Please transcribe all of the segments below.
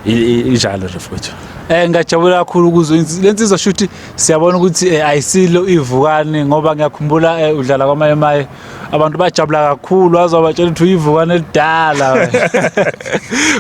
injalo nje futhi eh ngajabula kakhulu ukuzwa lensizwa shuthi siyabona ukuthi eh, ayisilo ivukane ngoba ngiyakhumbula eh, udlala kwamaye maye abantu bajabula kakhulu waze wabatshela ukuthi uyivukane elidala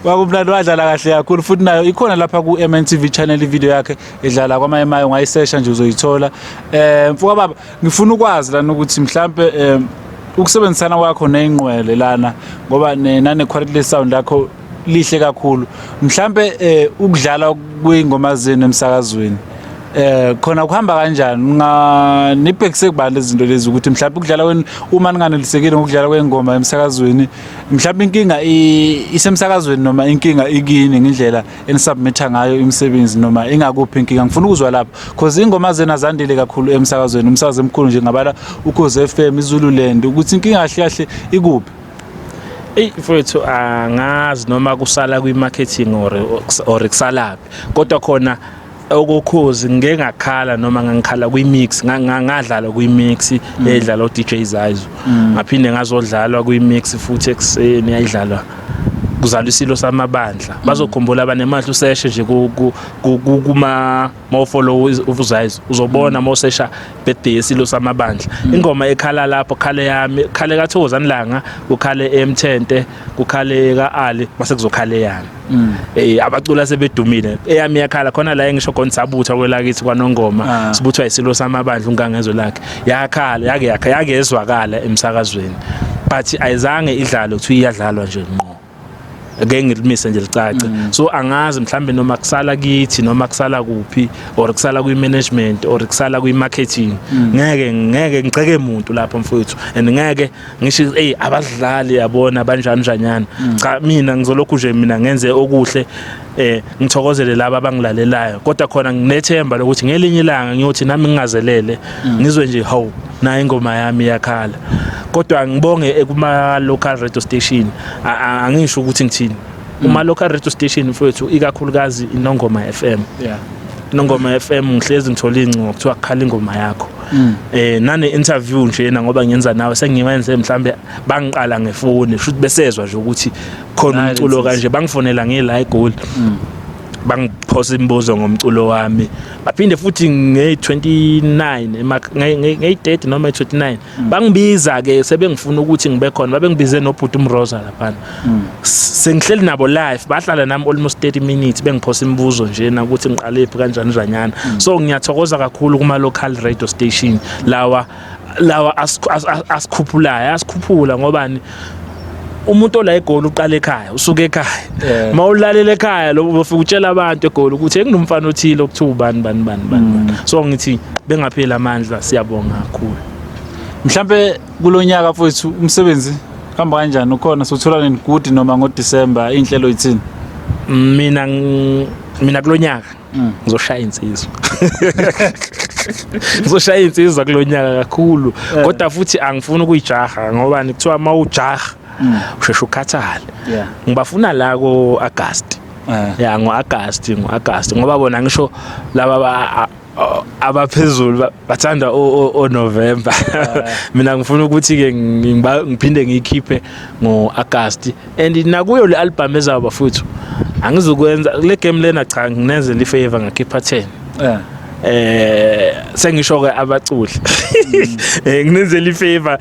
kwakumnandi wadlala kahle kakhulu futhi nayo ikhona lapha ku MNTV channel video yakhe edlala kwamaye maye ungayisesha nje uzoyithola eh mfuka baba ngifuna ukwazi lana ukuthi mhlambe eh, ukusebenzisana kwakho neyinqwele lana ngoba nane quality sound lakho lihle kakhulu mhlambe eh, ukudlala kwingoma zenu emsakazweni eh khona kuhamba kanjani nga nibhekise kubani lezinto lezi ukuthi mhlawumbe ukudlala kweni uma ninganelisekile ngokudlala kwengoma emsakazweni mhlawumbe inkinga isemsakazweni noma inkinga ikini ngendlela enisubmitha ngayo imisebenzi noma ingakuphi inkinga ngifuna ukuzwa lapho because ingoma zena zandile kakhulu emsakazweni umsakazo emkhulu nje ngabala ukhoze FM iZululand ukuthi inkinga kahle kahle ikuphi Ey mfowethu angazi noma kusala kwi marketing or or kusalaphi kodwa khona okokhozi ngeke ngakhala noma ngangikhala kwi mix ngadlala kwi mix mm. edlala o DJ Zayizo mm. ngaphinde ngazodlalwa kwi mix futhi ekseni yayidlalwa kuzalwa isilo samabandla mm. bazokhumbula abanemali useshe nje kuma mawufollow uvuzayizo uzobona mm. mosesha birthday yesilo samabandla mm. ingoma ekhala lapho khale yami khale kathokozani langa kukhale emthente kukhale kaali mase kuzokhale yami mm. eh abacula sebedumile eyami yakhala khona la engisho khona sabutha kwelakithi kwanongoma ah. sibuthwa isilo samabandla ungangezwe lakhe yakhala yake yakhe yakezwakala emsakazweni but ayizange idlalo kuthiwa iyadlalwa nje ngqo ngeke ngilimise nje licace mm. so angazi mhlambe noma kusala kithi noma kusala kuphi or kusala kwi management or kusala kwi marketing mm. ngeke ngeke ngiceke umuntu lapho mfowethu and ngeke ngisho hey abadlali yabona banjani njanyana mm. cha mina ngizolokhu nje mina ngenze okuhle eh ngithokozele laba abangilalelayo kodwa khona nginethemba lokuthi ngelinye ilanga ngiyothi nami ngingazelele mm. ngizwe nje haw nayo ingoma yami yakhala kodwa ngibonge ekuma local radio station angisho ukuthi ngithini mm. uma local radio station mfowethu ikakhulukazi inongoma FM yeah nongoma FM ngihlezi ngithola ingcingo kuthiwa kukhala ingoma yakho mm. eh nane interview nje na ngoba ngenza nawe sengiwenze mhlambe bangiqala ngefoni shuthi besezwa nje ukuthi khona umculo kanje bangifonela nge live goal mm. bangiphosa imibuzo ngomculo wami baphinde futhi nge-29 ngeyi-30 noma i-29 mm. bangibiza-ke sebengifuna ukuthi ngibe khona babengibize nobhuti umrosa laphana mm. sengihleli nabo live bahlala nami almost 30 minutes bengiphosa imibuzo njena ukuthi ngiqalephi kanjani njanyana mm. so ngiyathokoza kakhulu kuma-local radio station lawa lawa asikhuphulayo asikhuphula ngobani umuntu ola egoli uqala ekhaya usuke ekhaya uma ulalela ekhaya lo ufika utshela abantu egoli ukuthi enginomfana othile okuthiwa ubani bani bani bani mm. so ngithi bengapheli amandla siyabonga kakhulu mhlambe kulonyaka mfowethu umsebenzi hamba kanjani ukhona sothola nini good noma ngo December inhlelo yithini mina mina kulonyaka mm. ngizoshaya insizwa ngizoshaya insizwa kulonyaka kakhulu eh. kodwa futhi angifuni ukuyijaha ngoba nikuthiwa mawujaha mm. usheshe ukhathale ngibafuna la ko August eh. ya ngo August ngo August ngoba bona ngisho laba abaphezulu bathanda o November eh. mina ngifuna ukuthi ke ngiphinde ngiyikhiphe ngo August and nakuyo le album ezayo bafuthu angizukwenza le game lena cha nginenze li favor ngakhipha 10 eh eh sengisho ke abaculi mm. eh nginenzela ifavor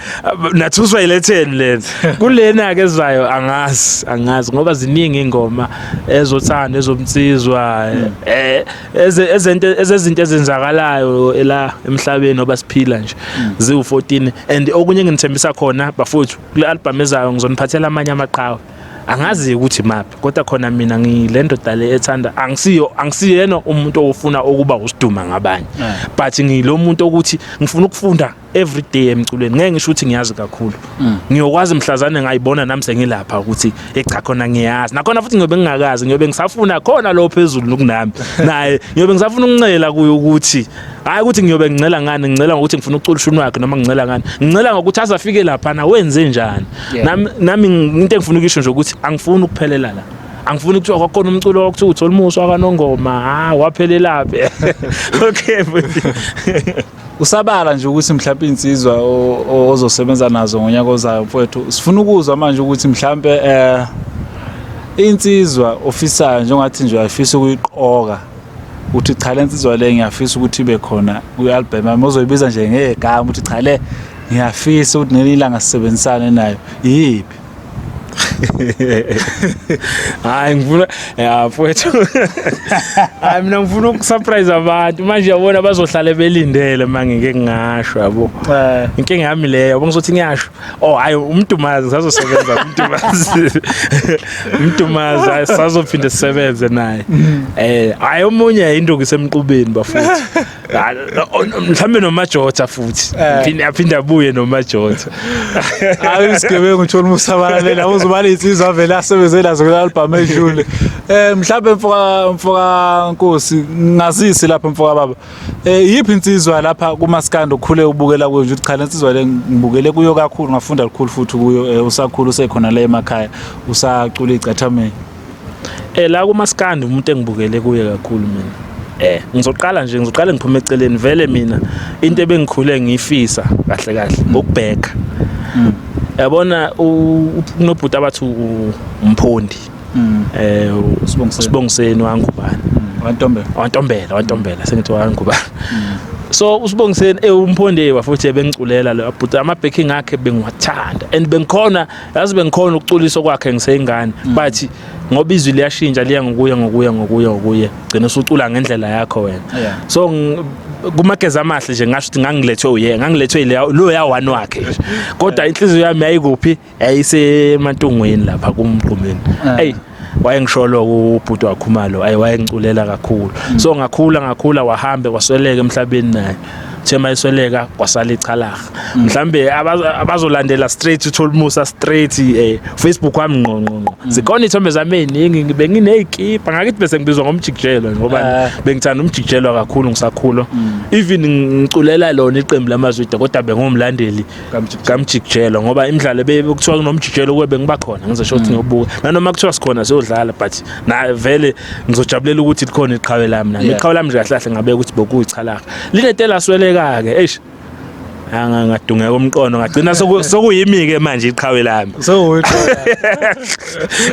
nathuswa ile 10 lena kulena ke zayo angazi angazi ngoba ziningi ingoma ezothanda ezomtsizwa mm. eh ezento ezezinto ezenzakalayo la emhlabeni obasiphila nje mm. ziwu 14 and okunye ngithembisa khona bafuthu kule album ezayo ngizoniphathela amanye amaqhawe angazi ukuthi maphi kodwa khona mina ngilendoda le ethanda angisiyo angisiyena umuntu ofuna ukuba usiduma ngabanye eh. but ngilomuntu ukuthi ngifuna ukufunda every day emculweni ngeke ngisho ukuthi ngiyazi kakhulu mm. ngiyokwazi mhlazane ngayibona nami sengilapha ukuthi echa khona ngiyazi nakhona futhi ngiyobe ngingakazi ngiyobe ngisafuna khona lo phezulu kunami naye ngiyobe ngisafuna ukuncela kuyo ukuthi hayi ukuthi ngiyobe ngincela ngani ngincela ngokuthi ngifuna ukucula ushuni wakhe noma ngincela ngani ngincela ngokuthi azafike lapha na wenze njani nami into engifuna ukisho nje ukuthi angifuni ukuphelela la angifuni kuthiwa kwakhona umculo wakuthiwa uthola umuso wakanongoma ha waphelelaphi okay usabala nje ukuthi mhlawumbe insizwa ozosebenza nazo ngonyaka ozayo mfowethu sifuna ukuzwa manje ukuthi mhlawumbe eh insizwa ofisayo njengathi nje ayifisa ukuyiqoka uthi cha le nsizwa le ngiyafisa ukuthi ibe khona kwi-albhamu yami ozoyibiza nje ngegama ukuthi cha le ngiyafisa ukuthi ngelinye ilanga sisebenzisane nayo iyiphi hayi ngifuna ya mfowethu hayi mina ngifuna ukusurprise abantu manje yabona bazohlale belindele uma ngike ngingasho yabo eh. inkinga yami leyo yabo ngizothi ngiyasho Oh hayi umdumazi sazosebenza umdumazi. Umdumazi hayi, sazophinde sisebenze naye. Eh hayi omunye induku isemqubeni bafuthi. Ah, o- no- Mhlambe nomajotha futhi. Eh. Phinde aphinde abuye nomajotha. hayi isigebengu uthola umusabalale labo uzobala insizwa vele asebenze nazo kula album edlule eh mhlawumbe mfoka mfoka nkosi ngazisi lapha mfoka baba Eh yiphi insizwa lapha kumaskando ukhule ubukela kuyo nje ukuthi cha lensizwa le ngibukele kuyo kakhulu ngafunda lukhulu futhi kuyo eh, usakhulu usekhona la emakhaya usacula igcathameni. Eh la kumaskando umuntu engibukele kuye kakhulu mina. Eh ngizoqala nje ngizoqala ngiphume eceleni vele mina into ebengikhule ngiyifisa kahle kahle ngokubheka. Mm. Yabona unobhuti abathi umphondi. mm. eh usibongiseni wangubani mm. wantombela wantombela wantombela sengithi wangubani mm. so usibongiseni ewumphondewa eh, futhi ebengiculela lo but ama backing akhe bengiwathanda and bengikhona yazi bengikhona ukuculiso kwakhe ngiseyingane mm. but ngoba izwi liyashintsha liya ngokuya ngokuya ngokuya ngokuya gcina usucula ngendlela yakho wena so kumageza amahle nje ngasho ukuthi ngangilethwe uye ngangilethwe lo ya one wakhe kodwa inhliziyo yami yayikuphi yayisemantungwini lapha kumgqumeni eh. eyi wayengisholo ubhuti wakhumalo ayi wayengiculela kakhulu mm. so ngakhula ngakhula wahambe kwasweleka emhlabeni naye thema isweleka kwasala ichalaha mm. mhlambe abazolandela straight uthola umusa straight eh Facebook wami ngqo ngqo ngqo mm. zikhona ithombe zami eziningi ngibe nginezikipa ngakithi bese ngibizwa ngomjikijelwa ngoba eh. bengithanda umjikijelwa kakhulu ngisakhula even ngiculela lona iqembu lamazwida kodwa bengumlandeli kamjikijelo ngoba imidlalo bekuthiwa kunomjikijelo kube bengiba khona ngizosho ukuthi mm. ngiyobuka nanoma kuthiwa sikhona siyodlala but na vele ngizojabulela ukuthi likhona iqhawe lami nami iqhawe lami nje kahle kahle ngabe ukuthi bokuyichalaka linetela sweleka ke eish angangadungeka umqondo ngagcina sokuyimi-ke manje iqhawe lami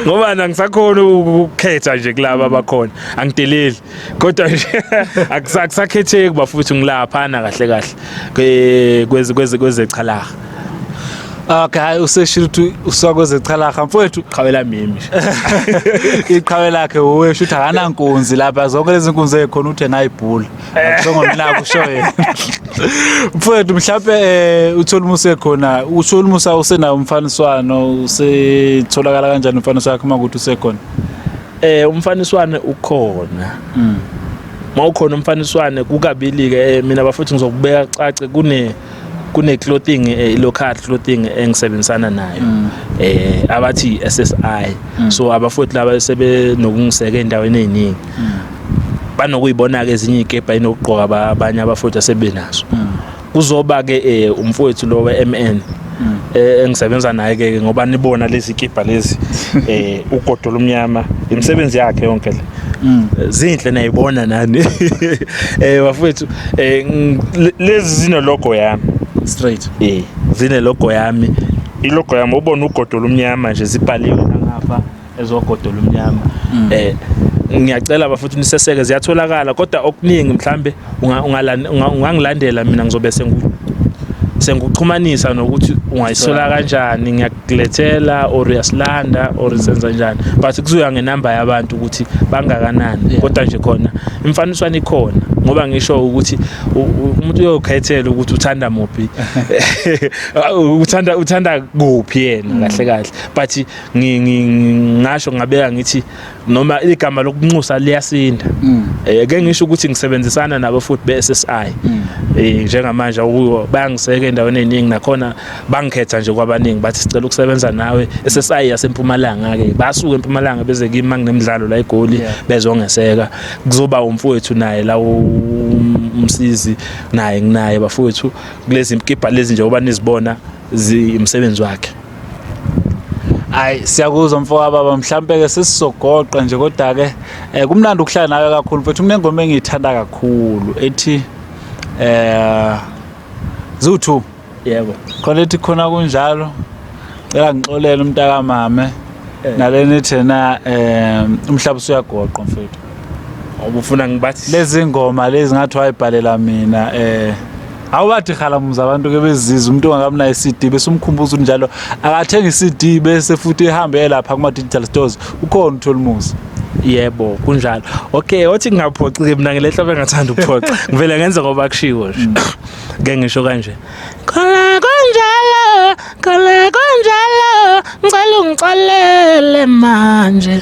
ngoba nangisakhona ukukhetha nje kulaba abakhona angideleli kodwa nje akusakhetheki bafuthi ngilaphana kahle kahle kweze kweze kweze chalaha Okay hayi useshilo ukuthi usakweze chalaha mfowethu qhawela mimi iqhawe lakhe uwe shutha kana nkunzi lapha zonke lezi nkunzi ekhona uthe ngayibhula akusongo mina kusho yena mfowethu mhlawumbe eh, uthola umusa ekhona uthola umusa usenawo umfaniswano usetholakala kanjani umfaniswano wakhe uma ukuthi usekhona Eh umfaniswane ukhona. Mm. Mawukhona umfaniswane kukabili ke eh, mina bafuthi ngizokubeka cace kune kune clothing eh, local clothing engisebenzisana nayo mm. eh abathi SSI mm. so abafuthi laba sebe nokungiseka endaweni eziningi mm. banokuyibona ke ezinye ikepha inokugqoka abanye abafuthi asebenazo mm. kuzoba ke eh, umfowethu lo weMN mm. eh, engisebenza naye ke ngoba nibona lezi kibha lezi eh ugodo lomnyama imisebenzi yakhe yonke le mm. eh, zinhle nayibona nani eh bafethu eh lezi zino logo yami straight eh zine logo yami ilogo yami ubona ugodo lomnyama nje sibhaliwe ngapha ezogodo lomnyama mm. eh ngiyacela bafuthi niseseke ziyatholakala kodwa okuningi mhlambe ungangilandela mina ngizobe sengu senguxhumanisa nokuthi ungayisola kanjani ngiyakulethela or uyasilanda or senza njani but kuzoya ngenamba yabantu ukuthi bangakanani kodwa nje khona imfaniswano ikhona ngoba ngisho ukuthi umuntu uyokhethela ukuthi uthanda muphi uthanda uthanda kuphi yena kahle kahle but ngingasho ngingabeka ngithi noma igama lokunxusa liyasinda mm. eh ke ngisho ukuthi ngisebenzisana nabo futhi beSSI mm. eh njengamanje ukuyo bayangiseka endaweni eningi nakhona bangikhetha nje kwabaningi bathi sicela ukusebenza nawe SSI yasempumalanga ke basuke empumalanga beze kimi manginemidlalo la egoli bezongeseka kuzoba umfowethu naye la umsizi naye nginaye bafowethu kulezi mkipha lezi nje oba nizibona zimsebenzi wakhe hayi siyakuzwa mfoka baba mhlampe ke sesizogoqa nje kodwa ke eh, kumnandi ukuhlala nawe kakhulu mfethu kunengoma engiyithanda kakhulu ethi eh zu2 yebo khona ethi khona kunjalo cela ngixolele umntakamame eh. nalena ethena eh umhlaba usuyagoqa mfethu ubufuna ngibathi lezi ngoma lezi ngathi wayibhalela mina eh awubathi khalamuza abantu ke beziza umuntu ongakamnayo CD bese umkhumbuza njalo akathenga CD bese futhi ehambe lapha kuma digital stores ukhona utholimuzi yebo kunjalo okay othi ngingaphoxi ke mina ngelehla bengathanda ukuphoxa ngivele ngenze ngoba kushiwo nje mm. ke ngisho kanje khona kunjalo khona kunjalo ngicela ungixolele manje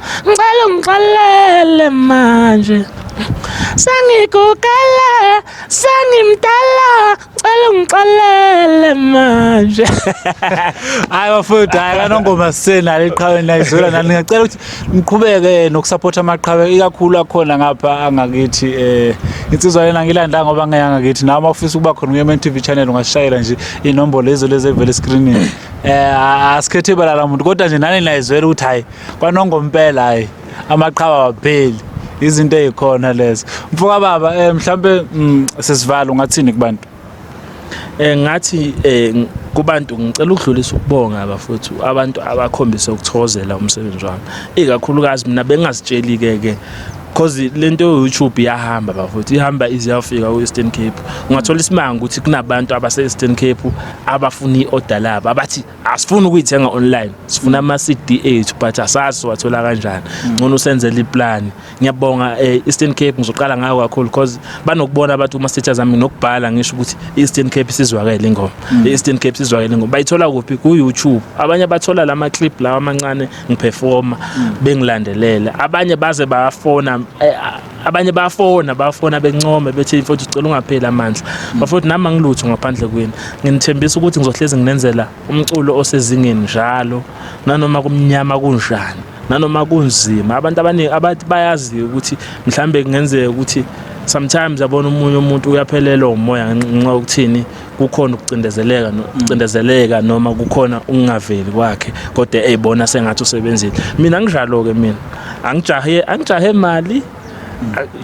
Ngicela ungixolele manje sengigugele sengimdala ngicela ungixolele manje hayi bafowethu hayi kanongoma sisenalo iqhawe nayizwela nani ngiyacela ukuthi niqhubeke nokusaphotha amaqhawe ikakhulu akhona ngapha angakithi eh insizwa lena ngilanda ngoba ngeyanga kithi nawe mawufisa ukuba khona kuye TV channel ungashayela nje inombolo lezo lezi evele screenini eh asikhethe balala umuntu kodwa nje nani nayizwela ukuthi hayi kwanongo mpela hayi amaqhawa wapheli izinto ezikhona lezo mfoka baba eh mhlambe mm, sesivalo ngathini kubantu eh ngathi eh ng- kubantu ngicela ukudlulisa ukubonga bafowethu abantu abakhombise ukuthokozela umsebenzi wami ikakhulukazi mina bengazitsheli ke ke cause lento yo YouTube iyahamba bafowethu ihamba iziyafika ku Eastern Cape ungathola isimanga ukuthi kunabantu abase Eastern Cape abafuna iorder labo abathi asifuni ukuyithenga online sifuna ama CD ethu but asazi wathola kanjani ngcono usenzele iplan ngiyabonga eh, Eastern Cape ngizoqala ngayo kakhulu because banokubona abantu uma status zami nokubhala ngisho ukuthi Eastern Cape sizwakele ingoma mm. Eastern Cape sizwakele ingoma bayithola kuphi ku YouTube abanye bathola lama clip lawa amancane ngiperforma mm. bengilandelela abanye baze bafona eh, abanye bafona bafona bencome bethi mfowethu sicela ungapheli amandla bafowethu nami angilutho ngaphandle kwenu nginithembisa ukuthi ngizohlezi nginenzela umculo osezingeni njalo nanoma kumnyama kunjani nanoma kunzima abantu abaningi abathi bayaziyo ukuthi mhlambe kungenzeka ukuthi sometimes yabona umunye umuntu uyaphelelwa umoya ngenxa yokuthini kukhona ukucindezeleka ukucindezeleka noma kukhona ukungaveli kwakhe kodwa eyibona sengathi usebenzile mina nginjalo ke mina angijahe angijahe mali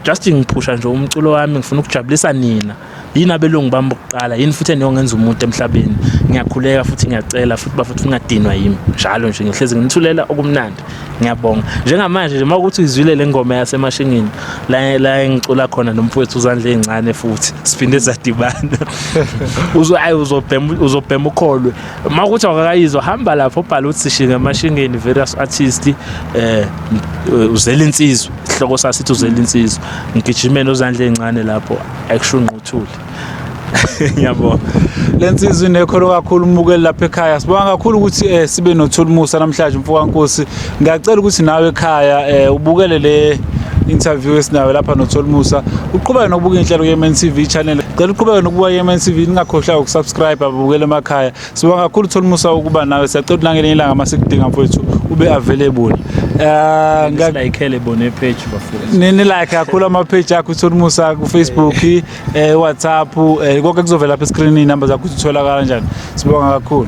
just ngiphusha nje umculo wami ngifuna ukujabulisa nina yini abelungu bami bokuqala yini futhi eniyongenza umuntu emhlabeni ngiyakhuleka futhi ngiyacela futhi bafuthi ungadinwa yimi njalo nje ngihlezi nginithulela okumnandi ngiyabonga njengamanje nje mawukuthi uyizwile le ngoma yasemashingini la la engicula khona nomfowethu uzandla ezincane futhi siphinde sadibana uzo ayi uzobhema uzobhema ukholwe mawukuthi awakayizwa hamba lapho ubhala uthi sishinga emashingeni various artist eh uzela insizwa ihloko sasithi uzela insizwa ngigijimeni uzandla ezincane lapho akusho ungquthule ngiyabonga le nsizwa inekholo kakhulu umukeli lapha ekhaya sibonga kakhulu ukuthi eh, sibe nothulumusa namhlanje mfokankosi ngiyacela ukuthi nawe ekhaya eh, ubukele le interview esinayo lapha nothulumusa uqhubeke nokubuka inhlelo ye-mn tv channel cela uqhubeke nokubuka ye-mn tv ningakhohlwa ukusubscribe ababukele emakhaya Sibonga kakhulu thola umusa ukuba nawe siyacela nangelinye ilanga masikudinga mfowethu ube available. Eh ngak Silayikhele bone page bafowethu. nini like kakhulu ama page akho thola umusa ku Facebook, eh WhatsApp, eh konke kuzovela lapha escreen inamba zakho uthola kanjani. Sibonga kakhulu.